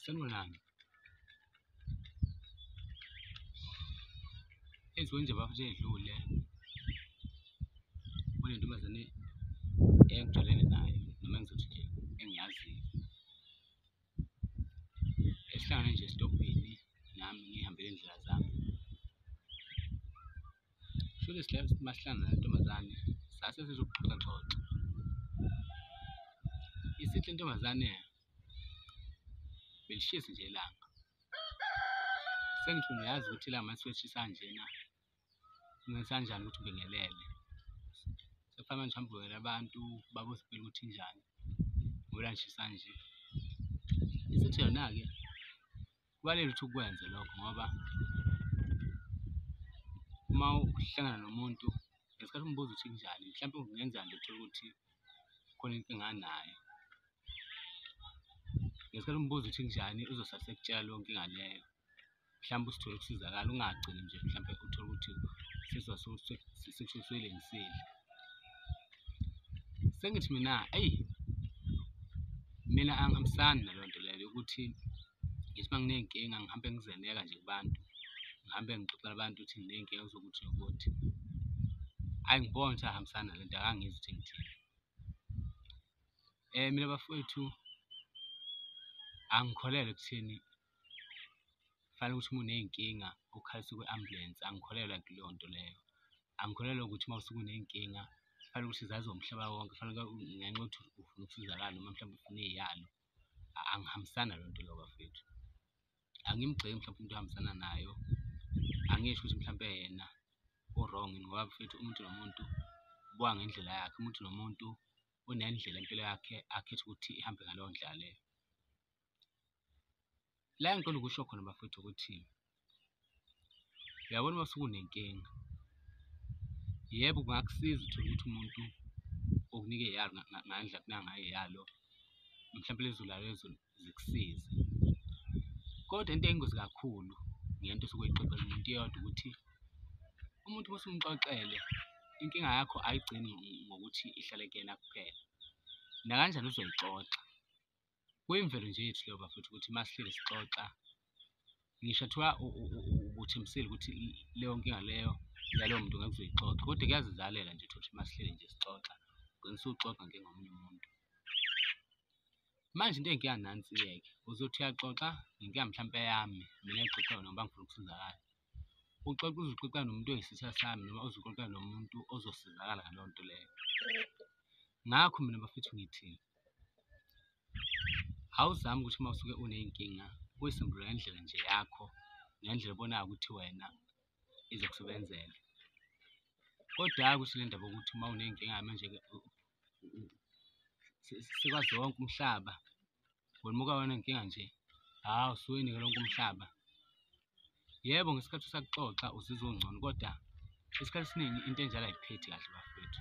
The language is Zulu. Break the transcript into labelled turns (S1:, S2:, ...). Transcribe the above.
S1: Sanibonani. Enziwe nje bafo edlule. Kule ntombazane engijwayelene nayo noma engizothi engiyaziyo. Esihlangane nje esitobhini nami ngihambele indlela zami. Shuthi masihlangana nentombazane sase sizoxoxa xoxa. Isithi intombazane belishisi nje ilanga. Sengifuna uyazi ukuthi ilanga mase lishisa kanjena ngenza kanjani ukuthi ubingelele. Sekufanele manje uhambe ubingelela abantu babuze impilo ukuthi injani ngoba ilanga lishisa kanje. Isithi yona-ke. kubalulekile ukuthi ukwenze lokho ngoba uma uhlangana nomuntu ngesikhathi umbuza ukuthi kunjani mhlawumbe kungenza nje uthole ukuthi khona inkinga anayo ngesikhathi umbuza ukuthi kunjani uzosala sekutshela leyo nkinga leyo mhlawumbe usithole ukusizakala ungagcini nje mhlawumbe uthole ukuthi sekushuswelengisile sengithi mina eyi mina angihambisani naloo nto leyo yokuthi Ngithi uma nginey'nkinga ngihambe ngizeleka nje kubantu, ngihambe ngixoxela abantu ukuthi nginey'nkinga eziwukuthi nokuthi. Hhayi ngibona ukuthi ahambisani nale nto akangizwa ukuthi ngithini. Mina bafwethu angikholelwa ekutheni kufanele ukuthi uma uney'nkinga ukhalise kwi-ambulensi, angikholelwa kuleyo nto leyo. Angikholelwa ukuthi uma usuke uney'nkinga kufanele ukuthi zaziwe umhlaba wonke, kufanele ngenxa yokuthi ufuna ukusizakala noma mhlawumbe ufuna eyalo. angihambisani nalo nto leyo bafethu angimgxeki mhlawumbe umuntu ohambisana nayo angisho ukuthi mhlawumbe yena u-wrong ngoba mfethu umuntu nomuntu ubuka ngendlela yakhe umuntu nomuntu unendlela impilo yakhe akhetha ukuthi ihambe ngaleyo ndlela leyo. la ngicela ukusho khona bafethu ukuthi uyabona uma usukunenkinga yebo kungakusiza uthole ukuthi umuntu okunike yalo ngandla kunangaye yalo mhlawumbe lezulu lalo lezulu zikusize kodwa into eyingozi kakhulu ngento osuke uyixoxela umuntu iyodwa ukuthi umuntu uma usumxoxele inkinga yakho ayigcini ngokuthi ihlale kuyena kuphela nakanjani uzoyixoxa kuyimvelo nje yethu leyo bafethu ukuthi uma sihleli sixoxa ngisho thiwa ubuthembisile ukuthi leyo nkinga leyo yalowo muntu ngeke uzoyixoxa kodwa kuyazizalela nje ukuthi uma sihleli nje sixoxa ugcina usuxoxa ngengomunye umuntu manje into engiya nansi-ke uzothi uyaxoxa nginkiya mhlawumpe yami mina ngixoxa yona ngoba ngifuna ukusizakala Uxoxa uze uxoxa nomuntu oyisitha sami noma uze uxoxa nomuntu ozosizakala ngaleyo nto leyo. Ngakho mina bafethu ngithi awuzami ukuthi uma usuke uney'nkinga uyisimbulula ngendlela nje yakho ngendlela obonayo ukuthi wena izokusebenzela. Kodwa hhayi ukuthi le ndaba yokuthi uma uney'nkinga manje-ke sikwazi wonke umhlaba. Welimuka wena inkinga nje. Hawu suwenike lonke umhlaba. Yebo ngesikhathi usakuxoxa uzizwa ungcono kodwa isikhathi esiningi into enjalo ayiphethi kahle bafwethu.